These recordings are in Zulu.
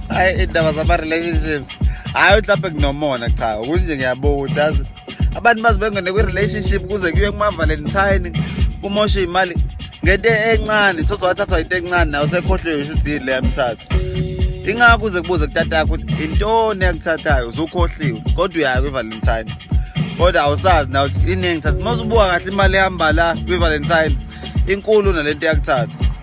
hayi iy'ndaba zama-relationships hhayi mhlawumpe kunomona cha ukuthi nje ngiyabonga ukuthi yazi abantu bazi bengene kwi-relationship kuze kuye kumavalentine kumoshe imali ngento encane thothi wathathwa into encane nayo sekhohliwe isho ukuthi yini le yamthatha ingakho uze kubuze kutata yakho ukuthi intoni yakuthathayo uzukhohliwe kodwa uyaya kwi-valentine kodwa awusazi naw ukuthi iningi thatha uma usubuka kahle imali ehamba la kwi-valentine inkulu nalento yakuthatha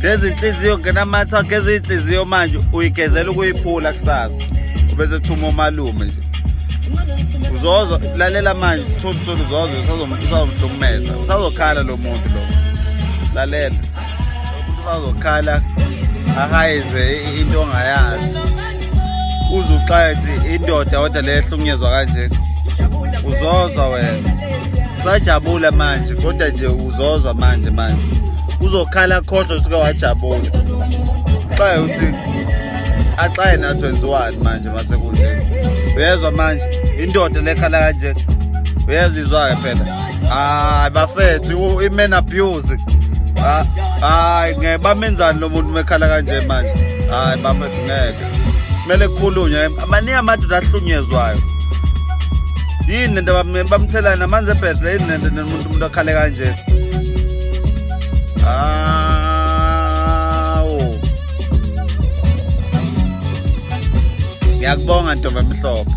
geza inhliziyo ngena amatha geza inhliziyo manje uyigezela ukuyiphula kusasa ubese thuma umalume nje uzozo lalela manje thula thula uzozo usazomhlukumeza usazokhala lo muntu lo lalela usazokhala ahayize into ongayazi uzuxathi indoda kodwa le ehlukunyezwa kanje uzozwa wena usajabula manje kodwa nje uzozwa manje manje uzokhala khohlwa usuke wajabula xaye uthi axaye nathi wenziwani manje masekunjeni uyezwa manje indoda lekhala kanje uyezwa izwa-ke phela hayi bafethu i-man abuse hayi ngeke bamenzani lo muntu mekhala kanje manje hayi bafethu ngeke kumele kukhulunywe maningi amadoda ahlunyezwayo yini lento bamthelani amanzi ebhedle yini lento nomuntu umuntu akhale kanje awu ngiyakubonga ntombi emhlophe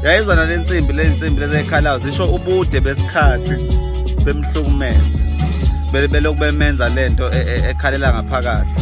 yayizona le nsimbi le nsimbi lezekhalayo ngisho ubude besikhathi bemhlukumeza belokhu bemenza lento e, e, ekhalela ngaphakathi